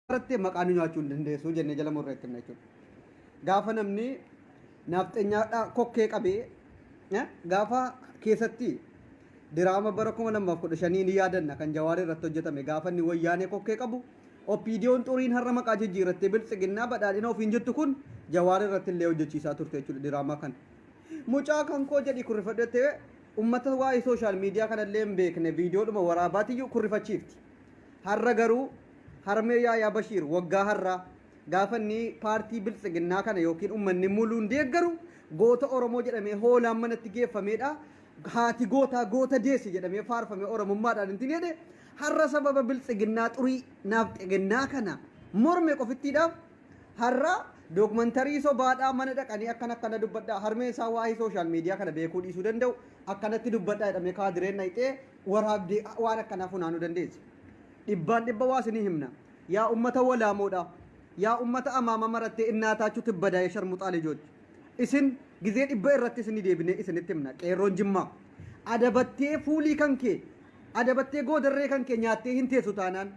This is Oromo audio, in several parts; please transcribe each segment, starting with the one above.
irratti maqaa nu nyaachuu hin dandeessu jennee jala murree itti himna jechuudha. Gaafa namni naafxenyaadhaa kokkee qabee eh, gaafa keessatti diraama bara kuma lamaaf kudha shanii ni yaadanna kan jawaaree irratti hojjetame gaafa inni wayyaanee kokkee qabu OPDOn xuriin har'a maqaa jijjiirrattee Biltsiginnaa, Badhaadhina ofiin jettu kun Jawaar irratti illee hojjechiisaa turte jechuudha diraamaa kana. Mucaa kan koo jedhii kurrifadhu jettee ummata waa'ee sooshaal miidiyaa kana illee hin beekne viidiyoodhuma waraabaatiyyuu kurrifachiifti. Har'a garuu harmee Yaayaa Bashiir waggaa har'aa gaafa inni paartii Biltsiginnaa kana yookiin ummanni muluun deeggaru goota Oromoo jedhamee hoolaan manatti geeffameedha. Haati gootaa goota deesse jedhamee faarfamee Oromummaadhaan hin tineedhe. Har'a sababa biltsiginnaa xurii naafxegennaa kana morme qofittiidhaaf har'a documentary sobaadhaa mana dhaqanii akkana akkana dubbadhaa harmeen isaa waa'ee social media kana beekuu dhiisuu danda'u akkanatti dubbadhaa jedhamee kaadireen dhayxee waraabdee waan akkanaa funaanuu dandeessi. Dhibbaan dhibba waa isinii himna. Yaa ummata walaamoodhaa. Yaa ummata amaama marattee innaataachu tibbadaa ya sharmuxaa lijoch. Isin gizee dhibba irratti isinii deebinee isinitti himna. Qeerroon Jimmaa. Adabattee fuulii kan kee Adabattee goodarree kan kee nyaattee hin teessu taanaan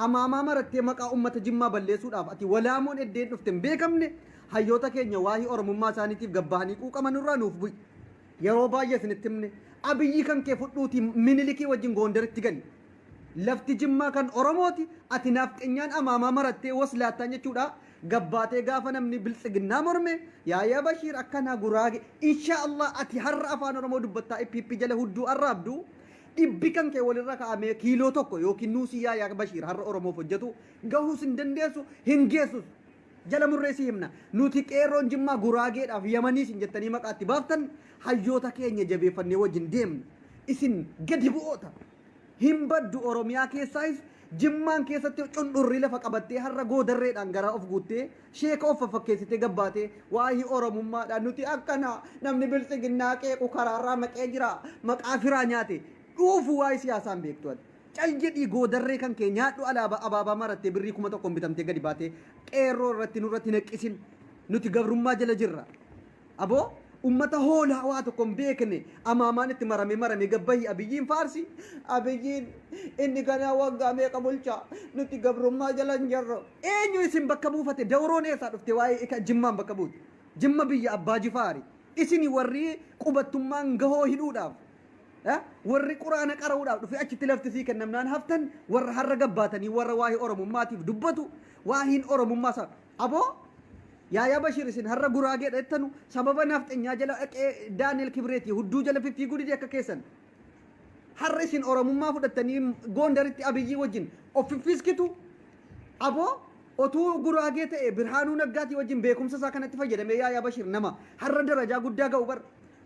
amaamaa marattee maqaa ummata Jimmaa balleessuudhaaf ati walaamoon eddeen dhufte hin beekamne hayyoota keenya waahii Oromummaa isaaniitiif gad bahanii quuqaman irraa nuuf bu'i. Yeroo baay'ee isinitti himne. Abiyyii kan kee fudhuutii Minilikii wajjin Goondaritti gali. Lafti Jimmaa kan Oromooti ati naafxenyaan amaamaa marattee waslaattaan jechuudhaa gad baatee gaafa namni Biltsiginnaa morme yaa yaa Bashiir akkanaa Guraage inshaa Allah ati har'a Afaan Oromoo dubbattaa pp jala hudduu arraabdu Dhibbi kan kee walirra ka'amee kiiloo tokko ykn nuusii Yaayaa Bashiir har'a Oromoof hojjetu gahuus hin dandeessu, hin geessus. Jala murree si himna. Nuti Qeerroon Jimmaa Guraageedhaaf Yamanii isin jettanii maqaa itti baaftan hayyoota keenya jabeeffannee wajjin deemna. Isin gadi bu'oota. Hin baddu Oromiyaa keessaayis Jimmaan keessatti cundhurri lafa qabattee har'a Goodarreedhaan garaa of guuttee Sheeka of faffakkeessitee gad baatee waahii Oromummaadha nuti akkana namni biltsiginnaa qeequ karaarraa maqee jira maqaa firaa nyaate dhuufu waa'ee siyaasaa hin beektu ati. Cal jedhii goodarree kan kee nyaadhu alaabaa abaabaa marattee birrii kuma tokkoon bitamtee gadi baatee qeerroo irratti nurratti hin haqqisin nuti gabrummaa jala jirra. Abo ummata hoolaa waa tokko hin beekne amaamaan itti marame marame gad bahi Abiyyiin faarsi Abiyyiin inni ganaa waggaa meeqa bulchaa nuti gabrummaa jala hin jirru eenyu isin bakka buufate dawroon eessaa dhufte waa'ee ika jimmaan bakka buute jimma biyya abbaa jifaari isini warri qubattummaan gahoo hidhuudhaaf eh, warri quraana qara'uudhaaf dhufe achitti lafti sii kennamnaan haftan warra har'a gabbaatanii warra waa'ee oromummaatiif dubbatu waahiin oromummaa isaa Abo Yaayaa Bashir isin har'a guraageedha jettanu sababa naafxenyaa jala dhaqee Daani'el Kibreetii hudduu jala fiffiiguu dide akka keessan har'a isin oromummaa fudhattanii goondaritti abiyyii wajjin of fiffiiskitu abo otuu guraagee ta'e birhaanuu naggaatii wajjin beekumsa isaa kanatti fayyadamee Yaayaa Bashir nama har'a darajaa guddaa ga'u bar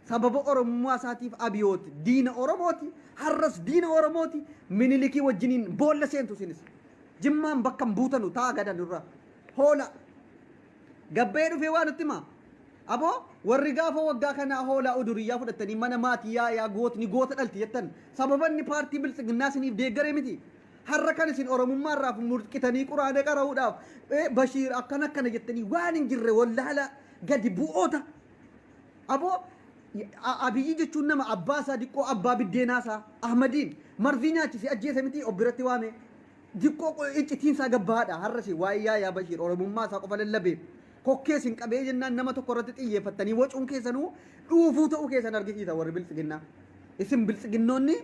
sababa oromummaa isaatiif abiyooti diina oromooti har'as diina oromooti minilikii wajjiniin boolla seentu isinis. Jimmaan bakka hin buutanu taa gada nurra hoola gabba'ee dhufee waa nutti himaa aboo warri gaafa waggaa kanaa hoolaa uduriyyaa fudhattanii mana maatii yaayaa gootni goota dhalti jettan sababanni paartii biltsiginnaa isiniif deeggaree miti har'a kan isin oromummaa irraa mulqitanii quraana qara'uudhaaf bashiir akkana akkana jettanii waan hin jirre wallaala gadi bu'oota Aboo Abiyyi jechuun nama abbaa isaa diqqoo abbaa biddeenaa isaa Ahmadiin marzii nyaachise ajjeese mitii of biratti waame diqqoo iccitiin isaa gabbaadha har'asi waa'ee yaayaa bashiir oromummaa isaa qofa lallabeef kokkee sin qabee jennaan nama tokko irratti xiyyeeffattanii wacuun keessanuu dhuufuu ta'uu keessan argisiisa warri biltsiginnaa isin biltsiginnoonni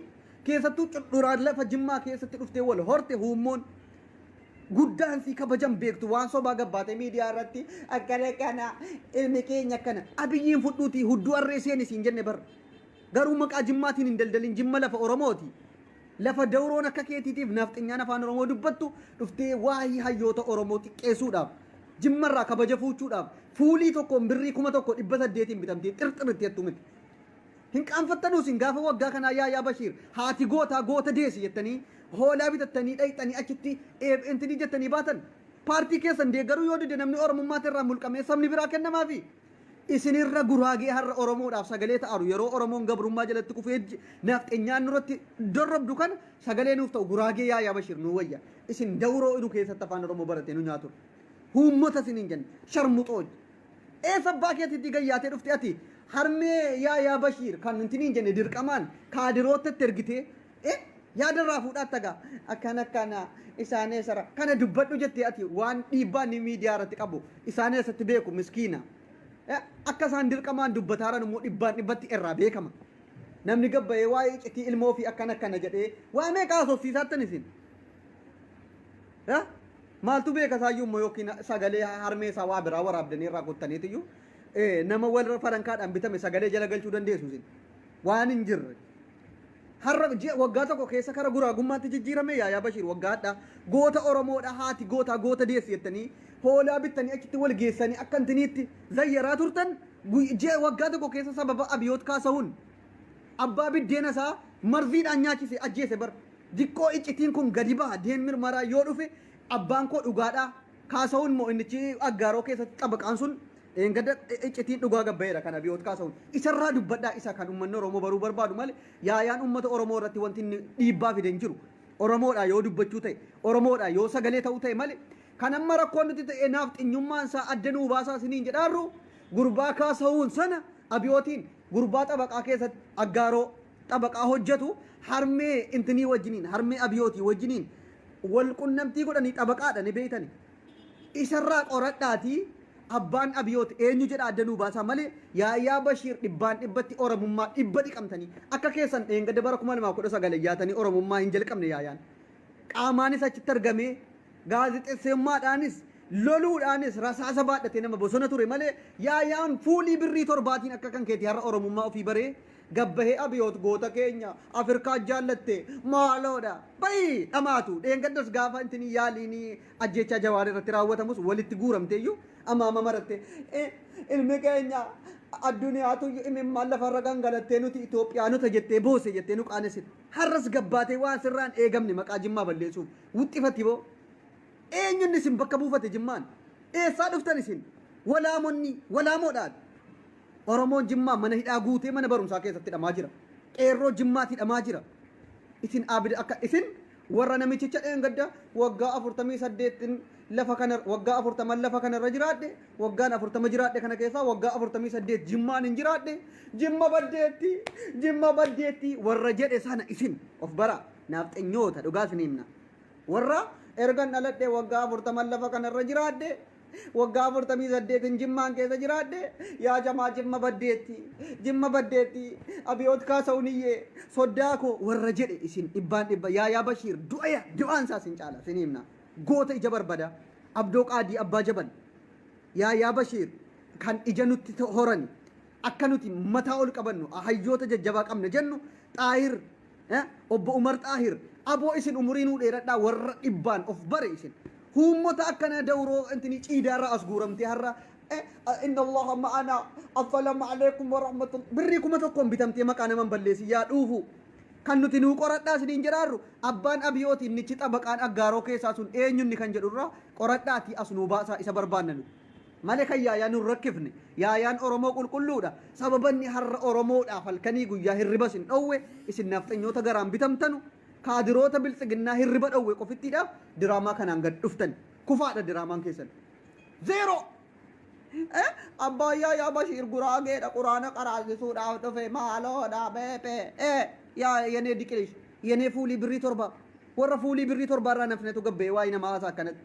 keessattuu cudhuraa lafa jimmaa keessatti dhuftee wal horte huummoon guddaan sii kabajan beektu waan sobaa gabbaate miidiyaa irratti akkana akkana ilmi keenya akkana abiyyiin fudhuuti hudduu arree seeni siin jenne bar garuu maqaa jimmaatiin hin daldalin jimma lafa oromooti lafa dawroon akka keetiitiif naafxinyaan afaan oromoo dubbattu dhuftee waa'ee hayyoota oromoo xiqqeessuudhaaf jimmarraa kabaja fuuchuudhaaf fuulii tokkoon birrii kuma tokko dhibba saddeetiin bitamtee xirxiritti jettu miti Hin qaanfattanuu isin gaafa waggaa kanaa yaa yaa Bashiir haati gootaa goota deesi jettanii hoolaa bitattanii dhayxanii achitti eeb entini jettanii baatan? Paartii keessan deeggaruu yoo dide namni Oromummaati irraa mulqamee sabni biraa kennamaafi? Isin irra Guraagee har'a Oromoodhaaf sagalee ta'aru yeroo Oromoon gabrummaa jalatti kufee Nafxenyaan nurratti dorrobdu kana sagalee nuuf ta'u Guraagee yaa yaa Bashiir nuu wayya. Isin dawroo idu keessatti Afaan Oromoo baratee nu nyaatudha. Huummota isiniin jenna. Sharmuxooj. Eessa abbaa keetii itti gayyaatee dhufte ati harmee yaa yaa bashiir kan nuti niin jenne dirqamaan kaadiroottatti ergitee eh yaada irraa fuudhaa taga akkan akkana isaan eessara kana dubbadhu jettee ati waan dhiibbaa ni miidiyaa irratti qabu isaan eessatti beeku miskiina eh akka isaan dirqamaan dubbataaran immoo dhibbaan dhibbatti irraa beekama namni gabbayee waa'ee iccitii ilmoo fi akkan akkana jedhee waa meeqa haasofsiisaattan isin Yaa maaltu beeka saayyuu immoo yookiin sagalee harmee isaa waa biraa waraabdanii irraa kuttaniitu iyyuu eh, nama wal farankaadhaan bitame sagalee jala galchuu dandeessu isin waan hin jirre. Har'a ji'a waggaa tokko keessa kara guraagummaatti jijjiirame yaayaa Bashiir waggaa hadhaa goota Oromoodha haati gootaa goota deessi jettanii hoolaa bittanii achitti wal geessanii akka intiniitti zayyaraa turtan guyy- ji'a waggaa tokko keessa sababa abiyoot kaasa'uun Abbaa biddeena isaa marviidhaan nyaachise ajjeese bar. Diqqoo iccitiin kun gadi baha deen mirmaraa yoo dhufe abbaan koo dhugaadha Kaasahun moo innichi aggaaroo keessatti xabaqaan sun dheengadda iccitiin dhugaa gad baheera kan Abiyoot Kaasahun. Isarraa dubbadhaa isa kan ummanni Oromoo baruu barbaadu malee yaayaan ummata Oromoo irratti wanti inni dhiibbaa fide hin jiru. Oromoodhaa yoo dubbachuu ta'e, Oromoodhaa yoo sagalee ta'uu ta'e malee kan amma rakkoon nutti ta'e naafxinyummaan isaa adda nuu baasaa isiniin jedhaarru gurbaa Kaasahun sana Abiyootiin Gurbaa xabaqaa keessat aggaaroo xabaqaa hojjatu harmee intinii wajjiniin harmee abiyootii wajjiniin wal qunnamtii godhanii xabaqaadha ni beeytani isarraa qoradhaatii abbaan abiyoot eenyu jedhaa adda nuu baasaa malee yaayaa bashiir dhibbaan dhibbatti oromummaa dhibba dhiqamtanii akka keessan dheengadda bara 2019 iyyaatanii oromummaa hin jalqabne yaayaan qaamaanis achitti argamee Gaazexesseummaadhaanis, loluudhaanis rasaasa baadhatee nama bosona ture malee Yaayaan fuulii birrii torbaatiin akka kan keetii har'a Oromummaa ofii baree gabbahee Abiyoot goota keenya Afirkaan jaallatte maaloodha ba'i dhamaatu dheengaddas gaafa intinii yaaliin ajjeechaa Jawaar irratti raawwatamus walitti guuramteeyyuu amma amma marattee ilmi keenya adduniyaatuyyu imimmaan lafarra gangalattee nuti Itoophiyaanota jettee boosse jettee nu qaanessite har'as gabbaatee waan sirraan eegamne maqaa Jimmaa balleessuuf Wuxxifati boo! Eenyu inni isin bakka buufate Jimmaan? Eessaa dhuftan isin? Walaamonni, Walaamoodha ati! Oromoon Jimmaa mana hidhaa guutee mana barumsaa keessatti hidhamaa jira. Qeerroo Jimmaati hidhamaa jira. Isin abida akka isin warra namichicha dheengadda waggaa 48n lafa kana waggaa 40 lafa kana irra jiraadhe waggaan 40 jiraadhe kana keessaa waggaa 48 jimmaan hin jiraadhe jimma baddeetti jimma baddeetti warra jedhe sana isin of baraa Naafxanyoota, dhugaa isinii himna. Warra ergan dhaladhee waggaa 40 lafa kana irra jiraadhe, waggaa 48n Jimmaan keessa jiraadhe, yaa jamaa Jimma baddeetti, Jimma baddeetti, Abiyoot Kaasawuniyyee, soddaa koo warra jedhe isin dhibbaan dhibba, Yaayaa Bashiir du'eera, du'aan isaa isin caala, isinii himna. Goota ija barbada, Abdoo Qaadii Abbaa Jabal, Yaayaa Bashiir kan ija nutti horani, akka nuti mataa ol qabannu, hayyoota jajjabaa qabna jennu, Xaahir Eh, Obbo Umar Xaahir, aboo isin umurii nuu dheeradhaa warra dhibbaan of bare isin. Huummota akkana dawroo intini ciidaarraa as guuramtee har'a eh, inna Allaha ma'ana affalamu alaikum wa rahmatul birrii kuma tokkoon bitamtee maqaa naman balleessi yaa dhuufuu. Kan nuti nuu qoradhaa isiniin jedhaarru abbaan abiyooti innichi xabaqaan aggaaroo keessaa sun eenyunni kan jedhurraa qoradhaatii as nuu baasaa isa barbaanna nuti. Male kan yaayaa nun rakkifne. Yaayaan Oromoo qulqulluudha. Sababa inni har'a Oromoodhaaf halkanii guyyaa hirriba isin dhowwe, isin nafxanyoota garaan bitamtanu, kaadiroota biltsiginnaa hirriba dhowwe qofittiidha diraamaa kanaan gad dhuftani. Kufaadha diraamaan keessan. Zeeroo! Eh, Abbaan Yaayaa Bashiir Guraageedha Quraana qaraasisuudhaaf dhufe maaloodha beepe. Eh, yaa yenee diqilish, yenee fuulii birrii torba. Warra fuulii birrii torbaa irraa nafnetu gabbee waa'ee namaa haasaa akkanatti.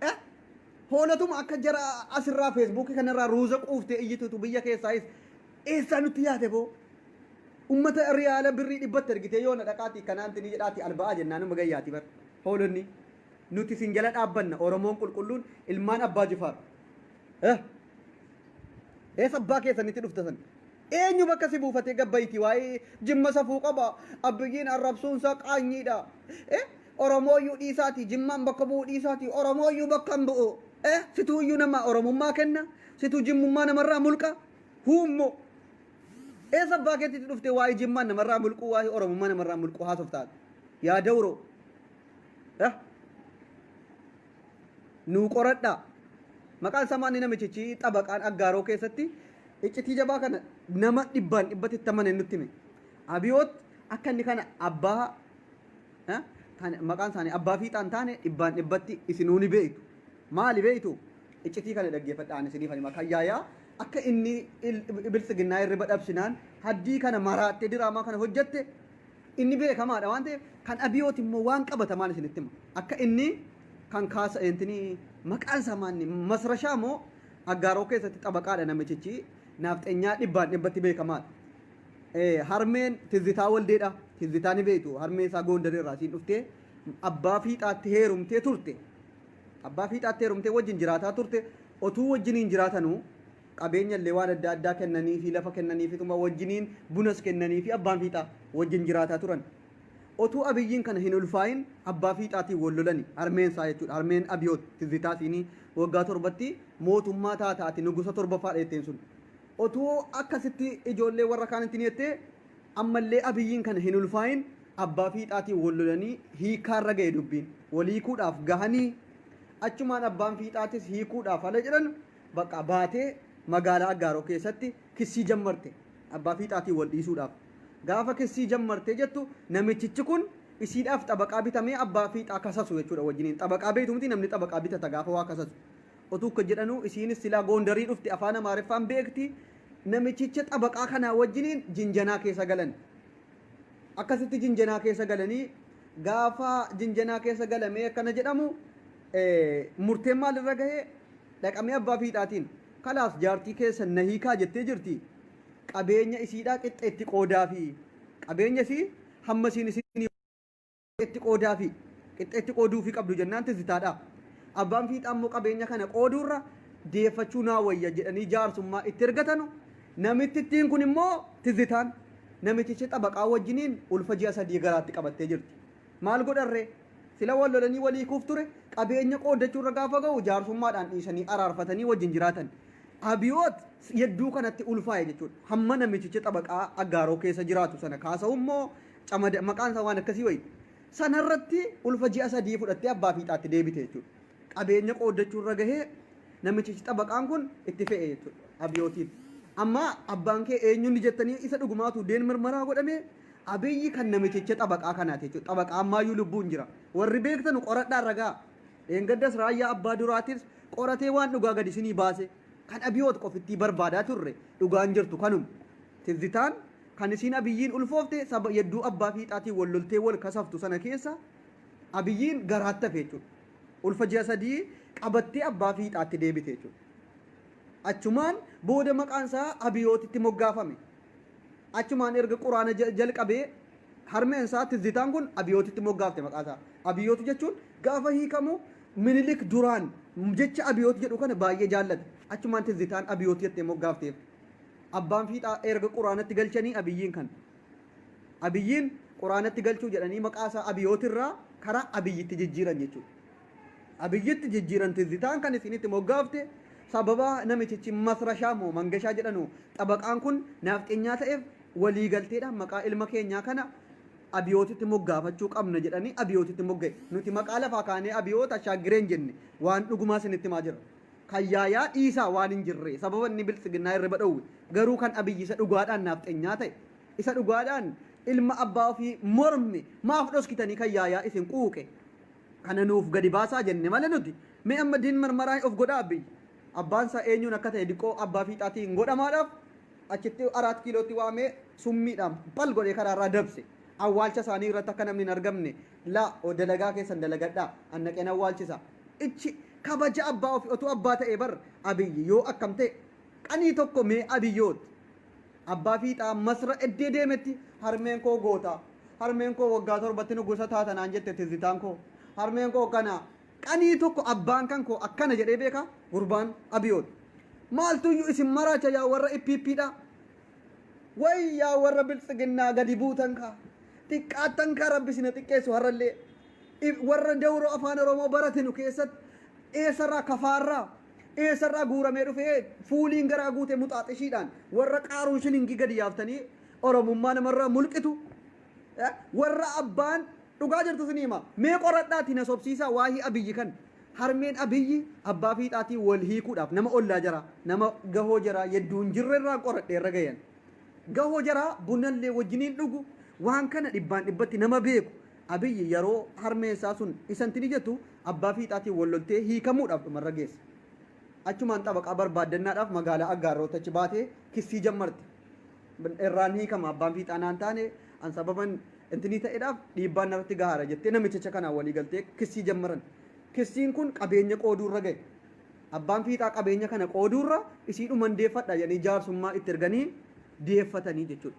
Eh? Hoolotuma akka jara asirraa feesbuukii kanarraa ruuza quuftee iyyituutu biyya keessaayis eessaa nutti yaate boo? Ummata riyaala birrii dhibbatti ergitee yoona dhaqaati kanaanti ni jedhaati alba'aa jennaanuma gayyaati bar. Hoolonni nuti isin jala dhaabbanna Oromoon qulqulluun ilmaan abbaa jifaar. Eh? Eessa abbaa keessanitti dhufta san? Eenyu bakka si buufatee gabbayitii waa'ee jimma safuu qaba abbiyyiin arrabsuunsaa qaanyiidha. Eh? Oromooyyuu dhiisaatii Jimmaan bakka bu'uu dhiisaatii Oromooyyuu bakka hin bu'u. Eh, situu iyyuu nama Oromummaa kenna, situu Jimmummaa namarraa mulqa. Huummo! Eessa abbaa keetiitti dhuftee waa'ee Jimmaan namarraa mulquu, waa'ee Oromummaa namarraa mulquu haasofta ati? Yaa dawroo! Eh? Nuu qoradhaa. Maqaan isaa maanni namichichi xabaqaan aggaaroo keessatti iccitii jabaa kana nama dhibbaan dhibbatti itti amane nutti hime. Abiyoot akka inni kana abbaa eh, kan maqaan isaanii abbaa fiixaa hin taane dhibbaan dhibbatti isinuu ni beektu. Maali beektu? Iccitii kana dhaggeeffadha ani isiniif hima. Kan yaayaa akka inni il- biltsiginnaa irriba dhabsinaan haddii kana maraattee diraamaa kana hojjette inni beekamaadha waan ta'eef kan abiyooti immoo waan qabatamaan isinitti hima. Akka inni kan kaasa eentini maqaan isaa maanni masrashaa moo aggaaroo keessatti xabaqaadha namichichi naafxenyaa dhibbaan dhibbatti beekamaadha. Harmeen Tizzitaa Waldeedha. Tizzitaa ni beektu harmee isaa Goondar irraa isiin dhuftee abbaa fiixaatti heerumtee turte. Abbaa fiixaatti heerumtee wajjin jiraataa turte. Otuu wajjiniin jiraatanuu qabeenya illee waan adda addaa kennaniifi lafa kennaniifituma wajjiniin bunas kennaniifi abbaan fiixaa wajjin jiraataa turan. Otuu Abiyyiin kana hin ulfaayin abbaa fiixaatiin wal lolani harmeen isaa jechuudha. Harmeen Abiyoot Tizzitaa isiinii waggaa torbatti mootummaa taata ati nugusa torbaffaadha jetteen sun. Otuu akka sitti ijoollee warra kaanitti ni jettee ammallee Abiyyiin kana hin ulfaa'iin abbaa fiixaatiin wal lolanii hiikkaa irra gahe dubbiin. Wal hiikuudhaaf gahanii achumaan abbaan fiixaatis hiikuudhaaf hala jedhan baqaa baatee magaalaa Aggaaroo keessatti kissii jammarte abbaa fiixaatiin wal dhiisuudhaaf. Gaafa kissii jammarte jettu namichichi kun isiidhaaf xabaqaa bitamee abbaa fiixaa kasasu jechuudha wajjiniin. Xabaqaa beektu mitii namni xabaqaa bitata gaafa waa kasasu. Otuu kka jedhanuu isiinis silaa goondarii dhufte afaan amaariffaan beekti namichicha xabaqaa kanaa wajjiniin jinjanaa keessa galan akkasitti jinjanaa keessa galanii gaafa jinjanaa keessa galamee akkana jedhamu murteen maal irra gahee dhaqamee abbaa fiixaatiin kalaas jaartii keessa na hiikaa jettee jirti qabeenya isiidhaa qixxeetti qoodaa fi qabeenya isii hamma isiin isin qixxeetti qoodaafi. Qixxeetti qooduufii qabdu jennaan tizitaadha. Abbaan fiixaa immoo qabeenya kana qooduurra deeffachuu naa wayya jedhanii jaarsummaa itti ergatanu. Namittittiin kun immoo tizitaan namiticha xabaqaa wajjiniin ulfa ji'a sadii garaatti qabattee jirti. Maal godharree? Sila wal lolanii wal hiikuuf ture qabeenya qooddachuurra gaafa ga'u jaarsummaadhaan dhiisanii araarfatanii wajjin jiraatan. Abiyoot yedduu kanatti ulfaa'e jechuudha. Hamma namitichi xabaqaa aggaaroo keessa jiraatu sana kaasa'u immoo camada maqaan isaa waan akkasii wayii. Sana irratti ulfa ji'a sadii fudhattee abbaa fiixaatti deebite jechuudha. Qabeenya qooddachuu irra gahee namichichi xabaqaan kun itti fe'e jechuudha. Abiyootiin. Amma abbaan kee eenyuun jettanii isa dhugumaatu deen mirmaraa godhamee abiyyi kan namichicha xabaqaa kanaati jechuudha. Xabaqaa ammaayyuu lubbuun jira. Warri beektanu qoradhaa ragaa. Dheengaddas raayyaa abbaa duraatis qoratee waan dhugaa gadi isinii baase kan abiyoot qofittii barbaadaa turre dhugaan jirtu kanuma. Tizzitaan Kan isiin Abiyyiin ulfoofte saba yadduu abbaa fiixaatiin wal loltee wal kasaftu sana keessa Abiyyiin garaatti hafe jechuudha. Ulfa ji'a sadii qabattee abbaa fiixaatti deebite jechuudha. Achumaan booda maqaan isaa Abiyootitti moggaafame. Achumaan erga quraana ja- jalqabee harmeen isaa tizzitaan kun Abiyootitti moggaafte maqaa isaa. Abiyoot jechuun gaafa hiikamu minilik duraan jecha Abiyoot jedhu kana baay'ee jaallate. Achumaan tizzitaan Abiyoot jettee moggaafteef. Abbaan fiixaa erga quraanatti galchanii Abiyyiin kan Abiyyiin quraanatti galchuu jedhanii maqaa isaa Abiyoot irraa karaa Abiyyitti jijjiiran jechuudha. Abiyyitti jijjiiran tizzitaan kan isinitti moggaafte sababa namichichi Masrashaa moo Mangashaa jedhanu xabaqaan kun naafxenyaa ta'eef walii galteedhaan maqaa ilma keenyaa kana Abiyootitti moggaafachuu qabna jedhanii Abiyootitti mogga'e. Nuti maqaa lafaa kaanee Abiyoot Ashaaggireen jenne waan dhugumaa isinitti himaa jirra. Kan Yaayaa dhiisaa waan hin jirree sababa inni biltsiginnaa irriba dhowwe garuu kan Abiy isa dhugaadhaan naafxenyaa ta'e isa dhugaadhaan ilma abbaa ofii morme maaf dhoskitanii kan Yaayaa isin quuqe kana nuuf gadi baasaa jenne male nuti mee amma din marmaraa of godhaa Abiy abbaan isaa eenyuun akka ta'e diqqoo abbaa fiixaatiin godhamaadhaaf achitti araat kiilootti waamee summiidhaan bal godhee karaa irraa dabse awwaalcha isaanii irratti akka namni hin argamne la dalagaa keessan dalagadhaa annaqeen awwaalchisa Icci kabaja abbaa ofi otuu abbaa ta'ee bar abiyyi yoo akkam ta'e qanii tokko mee abiyoot abbaa fiixaa masra eddee deemetti harmeen koo gootaa harmeen koo waggaa torbatti nugusa taata naan jette tizzitaan koo harmeen koo kana qanii tokko abbaan kan koo akkana jedhee beekaa gurbaan abiyoot maaltuyyu isin maraacha yaa warra ippiippiidha way yaa warra biltsiginnaa gadi buutan kaa xiqqaattan kaa rabbi sina xiqqeessu harrallee If warra dawroo afaan oromoo baratinu keessatti eessarraa kafaarraa eessarraa guuramee dhufee fuuliin garaa guute muxaaxishiidhaan warra qaaruun shilingii gadi yaaftanii oromummaa namarraa mulqitu Eh, warra abbaan dhugaa jirtu sin hima mee qoradhaati na sobsiisaa waahii abiyyi kan harmeen abiyyi abbaa fiixaatii wal hiikuudhaaf nama ollaa jara nama gahoo jara yedduu hin jirre irraa qoradhe irra gayan gahoo jara bunallee wajjiniin dhugu waan kana dhibbaan dhibbatti nama beeku Abiy yaroo harmeen isaa sun isa ntini jettu abbaa fiixaatiin wal loltee hiikamuudhaaf dhumarra geesse. Achumaan xabaqaa barbaaddannaadhaaf magaalaa Aggaarrootti achi baate kissii jammarte. Irraan hiikama abbaan fiixaa naan taane an sababan ntinii ta'edhaaf dhiibbaan narratti gahaara jettee namichicha kanaan walii galtee kissii jammaran. Kissiin kun qabeenya qooduurra gahe. Abbaan fiixaa qabeenya kana qooduurra isiidhuman deeffadha jedhanii jaarsummaa itti erganii deeffatanii jechuudha.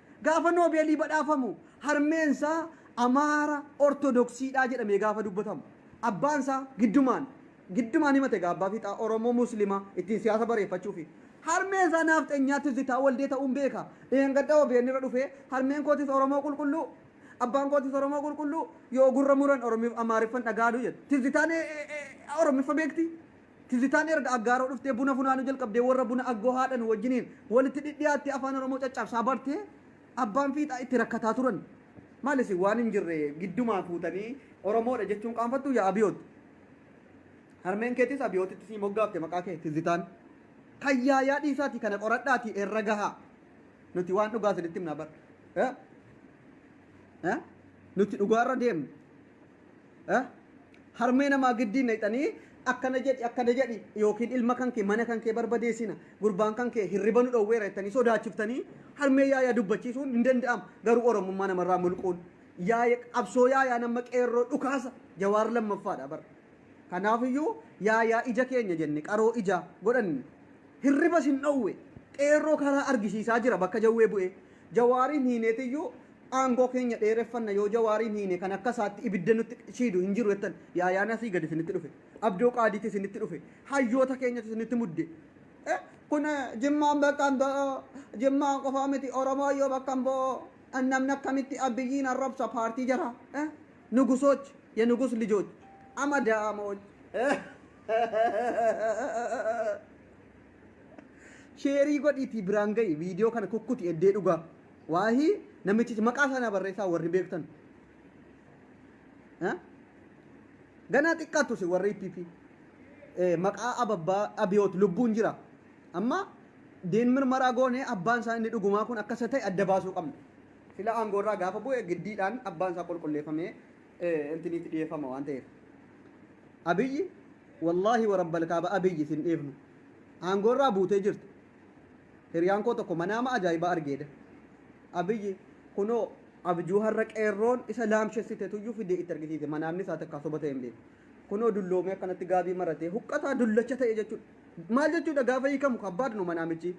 Gaafa Noobeelii badhaafamu harmeensaa Amaara Ortodoksiidha jedhamee gaafa dubbatamu. Abbaansaa giddumaan giddumaan himate egaa abbaa fiixaa Oromoo Muslimaa ittiin siyaasa bareeffachuufi. Harmeensaa naafxenyaa Tizzitaa Waldee ta'uun beeka. Dheengadda obn irra dhufee harmeen kootis Oromoo qulqulluu, abbaan kootis Oromoo qulqulluu, yoo gurra muran Amaariffan dhaga'adu jedhe. Tizzitaan Oromiffa beektii? Tizitaan erga Aggaaroo dhuftee buna funaanuu jalqabdee warra buna Aggoo haadhan wajjiniin walitti dhidhiyaattee Afaan Oromoo caccaabsaa bartee abbaan fiixaa itti rakkataa turan. Maal isin waan hin jirre giddumaa fuutanii Oromoodha jechuun qaanfattuu yaa Abiyoot? Harmeen keetis Abiyootitti sii moggaafte maqaa kee Tizitaan. Kan yaayaa dhiisaatii kana qoradhaatii irra gahaa. Nuti waan dhugaa isinitti himna bar. Eh? Eh? Nuti dhugaarra deemna. Harmee namaa giddii nayxanii akkana jedhi akkana jedhi yookiin ilma kan kee mana kan kee barbadeessina gurbaan kan kee hirriba nu dhowweera jettanii sodaachiftanii harmee yaayaa dubbachiisuun hin danda'amu garuu oromummaa namarraa mulquun yaaya qabsoo yaayaa nama qeerroo dhukaasa jawaar lammaffaadha bara kanaafiyyuu yaayaa ija keenya jenne qaroo ijaa godhanne hirriba sin dhowwe qeerroo karaa argisiisaa jira bakka jawwee bu'ee jawaariin hiineetiyyuu Aangoo keenya dheereffanna yoo Jawaariin hiine kan akka isaatti ibidda nutti shiidu hin jiru jettan. Yaayaan asii gadi isinitti dhufe. Abdoo Qaadiitti isinitti dhufe. Hayyoota keenyatu isinitti mudde. Kun Jimmaan bakka hin bu'u. Jimmaan qofaa miti Oromooyyuu bakka hin bu'u. Namni akkamitti Abiyyiin arrabsa paartii jara. Nugusoch, yenugus lijoch, amadaamoch. Sheerii godhiitii biraan ga'i viidiyoo kana kukkuti eddee dhugaa. Waahi namichichi maqaa isaa naa barreessaa warri beektan. Eh? Ganaa xiqqaattu si warri PP. Eh, maqaa ababbaa abiyoot lubbuun jira. Amma diin mirmaraa goonee abbaan isaa inni dhugumaa kun akka isa ta'e adda baasuu qabna. Sila aangoo irraa gaafa bu'e giddiidhaan abbaan isaa qulqulleeffamee eh, intiniitti dhiyeeffama waan ta'eef. Abiyyi wallaahi warabbal kaaba abiyyi sin dhiifnu. Aangoo irraa buutee jirta. Hiriyaan koo tokko manaama ajaa'ibaa argeedha. Abiyyi kunoo abjuu har'a qeerroon isa laamshessite tuyyuu fidee itti argisiise. Manaamni isaa takkaa soba ta'e hin beeku. Kunoo dulloomee akkanatti gaabii maratee huqqataa dullacha ta'e jechuudha. Maal jechuudha gaafa hiikamu kabbaad nu manaamichi.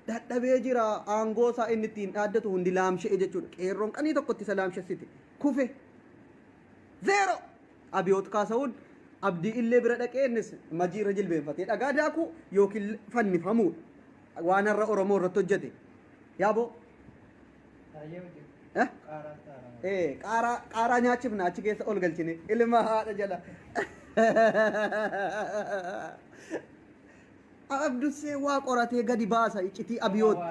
Dadhabee jira aangoo isaa inni ittiin dhaaddatu hundi laamsha'e jechuudha. Qeerroon qanii tokkotti isa laamshessite. Kufe. 0! Abiyoot Kaasahuun Abdii Illee bira dhaqee innis Majii irra jilbeenfatee dhagaa daakuu yookiin fannifamuudha. Waan har'a Oromoo irratti hojjete. Yaaboo! Eh? Eh, qaaraa qaaraa nyaachifna achi keessa ol galchine ilma haadha jala A Abdussee waa qoratee gadi baasa iccitii Abiyootti.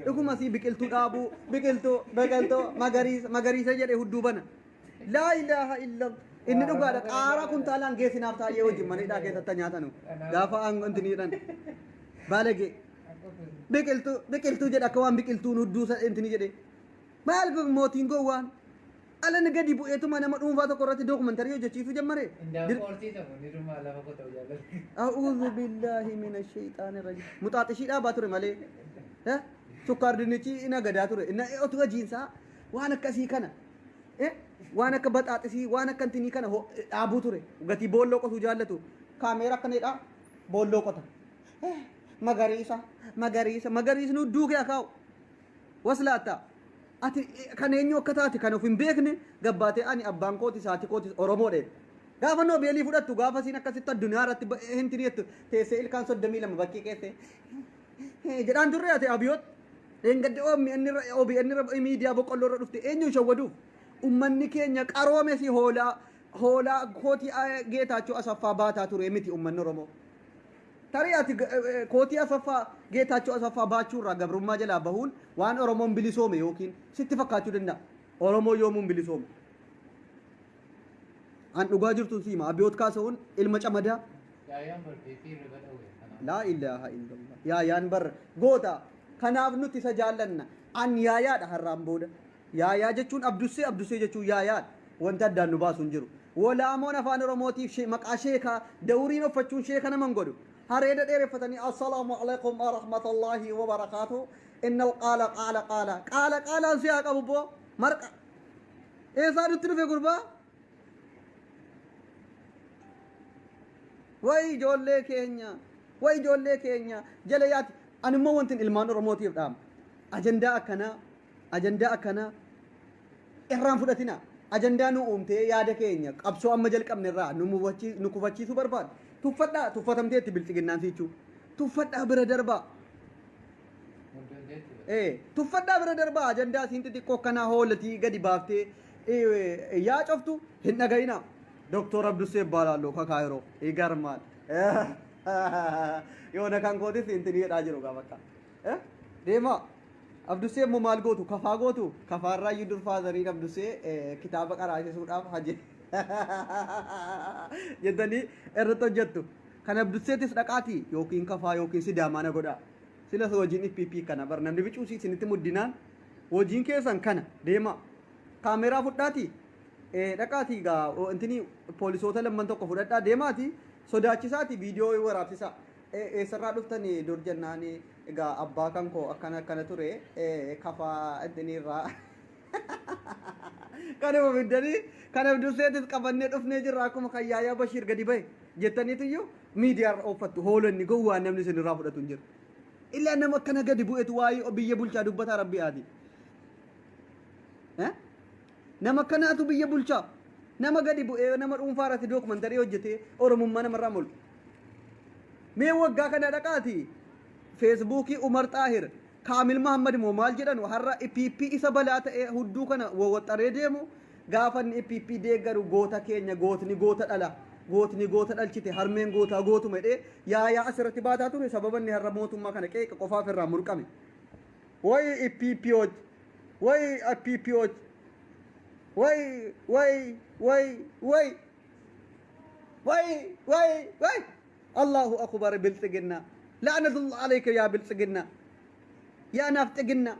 Dhuguma sii biqiltuu dhaabuu biqiltuu biqiltuu magariisa magariisa jedhe hudduu bana. Laa ilaaha illa inni dhugaadha qaaraa kuntaalaan geessinaaf taa'ee wajjin mana hidhaa keessatti nyaatanu gaafa aangoo inti niidhan baalagee biqiltuu biqiltuu jedha akka waan biqiltuun hudduu inti ni jedhe maal mootiin gowwaan Alan gadi bu'eetuma nama dhuunfaa tokko irratti dookumantarii hojjechiisuu jammare. Dir- Qoortii ta'u ni dhumaa lafa koo ta'u jaalladhu. A'uudhu billaahi mina sheeyxaani rajim. Muxaaxishii dhaabaa ture malee. Eh? Sukkaar dinnichi ina gadaa ture. Inna otu hojiinsaa waan akkasii kana. Eh? Waan akka baxaaxisii waan akka intinii kana ho- dhaabuu ture. Gatii boolloo qotuu jaallatu. Kaameera akka needhaa boolloo qota. Eh, Magariisa magariisa magariisni hudduu kee akaa'u. Waslaatta ati kan eenyu akka taate kan of hin beekne gabbaatee ani abbaan kootis haati kootis Oromoodha jette. Gaafa Noobeelii fudhattu gaafa isiin akkasitti addunyaa irratti ba- hinti jettu teessee ilkaan soddomii lama bakkii keessee jedhaan turre ati abiyoot dheengadde OMN irra OBN irra miidiyaa boqqolloo irra dhufte eenyuun shawwaduuf ummanni keenya qaroome si hoolaa hoolaa kootii ah, geetaachoo asaffaa baataa ture miti ummanni Oromoo. Tarii ati kootii Asaffaa, Geetaachoo Asaffaa baachuu irraa gabrummaa jalaa bahuun waan Oromoon bilisoome yookiin sitti fakkaachuu danda'a. Oromoon yoomuu hin bilisoomne. An dhugaa jirtuun si hima. Abiyoot Kaasawuun ilma camadaa. Yaayaan bar beekee irriba dhawwe kanaaf. Laa ilaaha illallah. Yaayaan bar goota. Kanaaf nuti isa jaallanna. An yaayaadha har'aan booda. Yaayaa jechuun Abdussee, Abdussee jechuun Yaayaa dha. Wanti addaan nu baasu hin jiru. Wolaamoon Afaan Oromootiif she, maqaa sheekaa, dawuriin offachuun sheeka nama hin godhu. Hareeda dheereffatanii Assalaamu Aleykum Warahmatallahi Wabarakaatu Innal Qaala Qaala Qaala Qaala Qaalaan si haa qabu bbo! Marqa! Eessaa nutti dhufe gurbaa? Way ijoollee keenya! Way ijoollee keenya! Jala yaati! Ani immoo wantin ilmaan Oromootiif dhaama. Ajandaa akkanaa Ajandaa akkanaa irraa hin fudhatinaa. Ajandaa nu uumtee yaada keenya qabsoo amma jalqabne irraa nu mufachi- nu kufachiisuu barbaaddu tuffadhaa tuffatamteetti bilxiginnaan siichuu. Tuffadhaa bira darbaa. Ee, tuffadhaa bira darbaa ajandaa isiin xixiqqoo akkanaa hoolatii gadi baaftee ee, yaa coftu hin dhaga'inaa. Doktor Abdussee Ibbaalaallo Kakaayiroo Igarmaal. Yoona kan kootis intinii jedhaa jiru gaa bakka. Eh? Deemaa. Abdusee immoo maal gootu? Kafaa gootu? Kafaarraa iyyuu dur faazariin Abdusee eh, kitaaba qaraasisuudhaaf haje. Jettanii irratti hojjettu. Kan Abduseetis dhaqaati yookiin kafaa yookiin sidaamaa na godhaa. Silas hojiin IPP kana bar namni bicuusii isinitti muddinaan hojiin keessan kana deemaa. Kaameeraa fudhaati. Eh, dhaqaati gaa o, intini poolisoota lamman tokko fudhadhaa deemaati sodaachisaati viidiyoo waraabsisaa. Ee eessarraa dhuftani dur jennaani egaa abbaa kan koo akkana akkana ture ee kafaa ittiniirraa kanuma fiddanii kanaaf durseetis qabannee dhufnee jirra akkuma kan yaayaa bashiir gadi bahe jettaniitiyyu miidiyaarra ooffattu hoolanni gowwaan namni isinirraa fudhatu hin jiru ilaa nama akkana gadi bu'etu waa'ee biyya bulchaa dubbataa rabbii aadii nama akkanaatu biyya bulchaa nama gadi bu'ee nama dhuunfaa irratti dookumantarii hojjetee oromummaa namarraa mul'u Mee waggaa kana dhaqaati feesbuukii Umar Xaahir, Kaamil Mahammad moo maal jedhanu har'a pp isa balaa ta'ee hudduu kana wawwaxxaree deemu gaafa inni pp deeggaru goota keenya gootni goota dhala gootni goota dhalchite harmeen gootaa gootuma jedhee yaayaa asirratti baataa ture sababa inni har'a mootummaa kana qeeqa qofaaf irraa murqame. Way ppooch way ppooch way way way way Way way way Allahu akubar bilxiginna la'anatullah alayka yaa bilxiginna yaa nafxiginna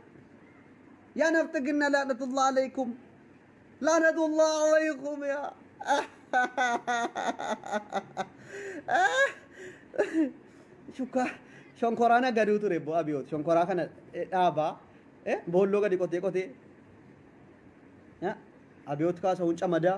yaa nafxiginna la'anatullah alaykum la'anatullah alaykum yaa shukka shonkoraan agaduu ture bo abiyoot shonkoraa kana eh, dhaabaa eh, boolloo gadi qotee qotee eh, abiyoot kaasa hunca madaa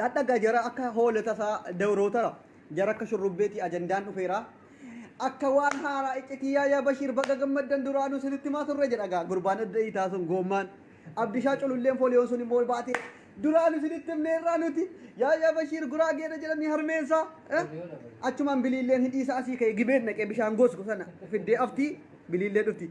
Yaadhagaa jara akka hoola tasaa dawrootara jara akka shurrubbeetii ajandaan dhufeera akka waan haaraa iccitii yaayaa bashiir baga gammaddan duraanuu sinitti maa turre jedhagaa gurbaan adda hiitaa sun goommaan abdishaa cululleen fooliyoon sun immoo baatee duraanuu sinitti himneerraa nuti yaayaa bashiir guraageedha jedhanii harmeensaa eh? achumaan biliilleen hidhiisaa asii ka'e gibeen naqee bishaan goosku sana fiddee aftii biliillee dhufti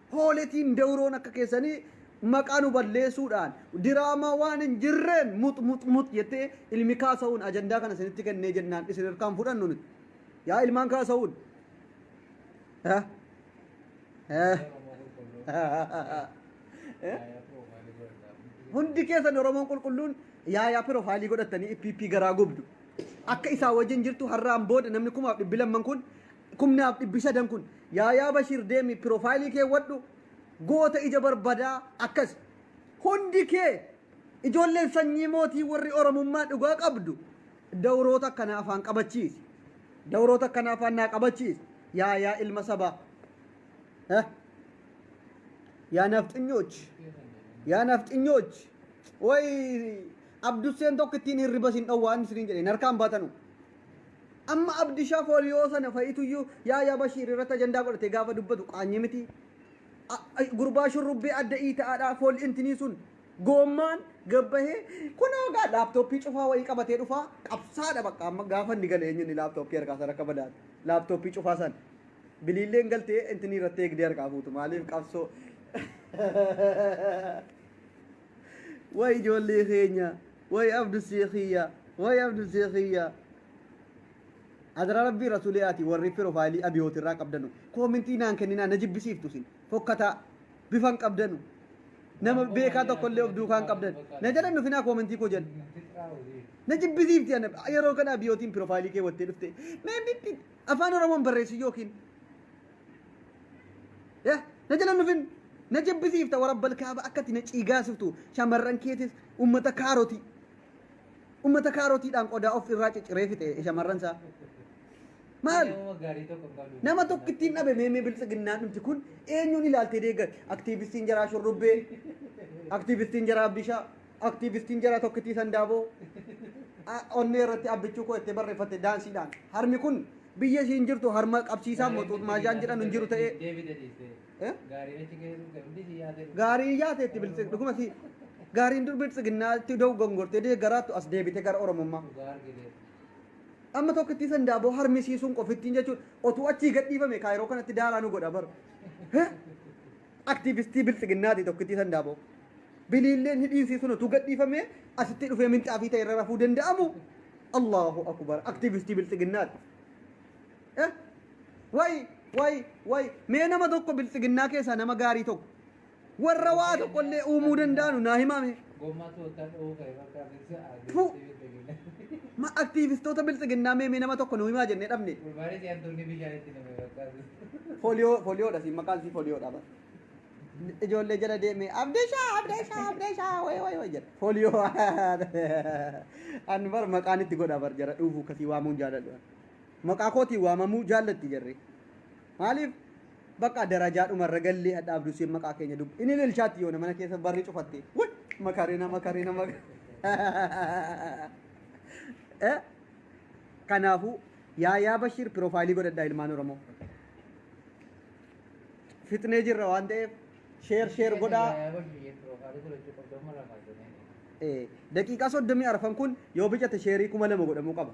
Pooletiin dawroon akka keessanii maqaa nu balleesuudhaan diraamaa waan hin jirreen mux mux mux jettee ilmi kaasa'uun ajandaa kana isinitti kennee jennaan isin irkaan fudhannu nuti. Yaa ilmaan kaasa'uun. Eh? Eh? Eh? Hundi keessan Oromoon qulqulluun yaayaa piroofaayilii godhattanii PP garaa gubdu. Akka isaa wajjin jirtu har'aan booda namni kumaaf dhibbi lamman kun kumnaaf dhibbi sadan kun yaayaa bashir deemi pirofayilii keewwadhu goota ija barbadaa akkas hundi kee ijoolleen sanyii mootii warri oromummaa dhugaa qabdu dawroota akkanaa afaan qabachiisi dawroota akkanaa afaan naa qabachiisi yaayaa ilma sabaa eh? yaa nafxinyoch yaa nafxinyoch way abdusseen tokko ittiin hirriba sin dhowwaan isiniin jedhe narkaan baatanu Amma abdisha foliyoo sana fayituyyu yaaya bashiir irratti ajandaa godhate gaafa dubbatu qaanyi miti gurbaa shurrubbee adda iita'aadha fool intinii sun goommaan gabbahee kunoo gaa laaptooppii cufaa wayii qabatee dhufaa qabsaadha bakka amma gaafa inni gale eenyuun laaptooppii harkaa sana akka badaate laaptooppii cufaa sana biliilleen galtee intinii irratti eegdee harkaa fuutu maaliif qabsoo way ijoollee keenya. Way abdusee kiyya way abdusee kiyya Adara rabbii rasulee ati warri pirofayilii abiyooti irraa qabdanu koomintii naan kenninaa na jibbisiiftu isin fokkataa bifan qabdanu nama beekaa tokko illee of duukaan qabdan na jala hin dhufinaa koomintii koo jala na jibbisiifti ana yeroo kana abiyootiin pirofayilii kee wattee dhufte mee bitti afaan oromoon barreessi yookiin Eh, na jala nufin na jibbisiifta warabbal kaaba akkati na ciigaasiftu shamarran keetis ummata kaarotii ummata kaarotiidhaan qodaa of irraa cicciree fixe shamarran isaa maal nama tokkittiin dhabe meemee biltsiginnaan dhumti kun eenyuun ilaaltee deeggar aktiivistiin jaraa shurrubbee aktiivistiin jaraa abdishaa Aktiivistiin jara tokkittii Sandaaboo onnee irratti abbichuu koo itti barreeffatte daansiidhaan. Harmi kun biyya isiin jirtu harma qabsiisaan moxuux maajaan jedhan hin jiru ta'ee. Gaarii yaate itti biltsi dhuguma si gaariin dur biltsiginnaa itti da'u gongortee deeggaraattu as deebite gara Oromummaa. Amma tokkittii Sandaaboo harmisiisuun qofittiin jechuun otuu achii gadhiifame kaayiroo kanatti daaraa nu godha bara. Aktiivistii Biltsiginnaati tokkittii Sandaaboo. Biliilleen hidhiinsii sun utuu gadhiifamee asittii dhufee minxaafii ta'e irra rafuu danda'amu? Allaahu akubar aktiivistii Biltsiginnaati. Eh? Way way way mee nama tokko Biltsiginnaa keessaa nama gaarii tokko warra waa tokkollee uumuu danda'anu naa himaame. Gommaa toottaa dha'uu ka'e bakka asirsa Tuu! adeemsee bilbilinaa. Ma aktiivistoota biltsiginnaa mee mee nama tokko nu himaa jennee dhabne. Gurbaanis hantuunni bishaan itti name bakka asirsa. Foliyoo foliyoodha siin maqaan sii foliyoodha bara. Ijoollee jala deemee abdeeshaa abdeeshaa abdeeshaa wayi wayi wayi jedha. Foliyoo an bara maqaan itti godha bara jara dhuufuu kasii waamuun jaaladhu. Maqaa kootiin waamamuu jaallatti jarri. Maaliif bakka darajaa dhuma irra gallee hadha abduu seen maqaa keenya dubbi. Inni lilshaatti yoona mana keessa barri cufatte. Wai makarina makarina mak. Eh kanaafuu yaayaa Bashiir piroofaayilii godhadhaa ilmaan Oromoo. Fixnee jirra waan ta'eef sheer sheer godhaa. Eh, daqiiqaa soddomii arfan kun yoo bicate sheerii kuma lama godhamuu qaba.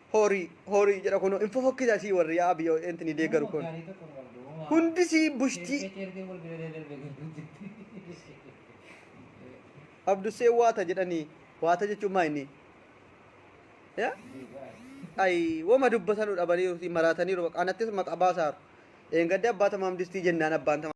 Hori hori jedha kuno hin fofokkisa sii warri yaa abiyo enti ni deeggaru kun hundi sii bushtii abdussee waata jedhanii waata jechuun maa inni ya ay woma dubbatanu dhabaniiru sii maraataniiru baqa anattis maqa baasaaru eengadde abbaa tamaam distii jennaan abbaan tamaam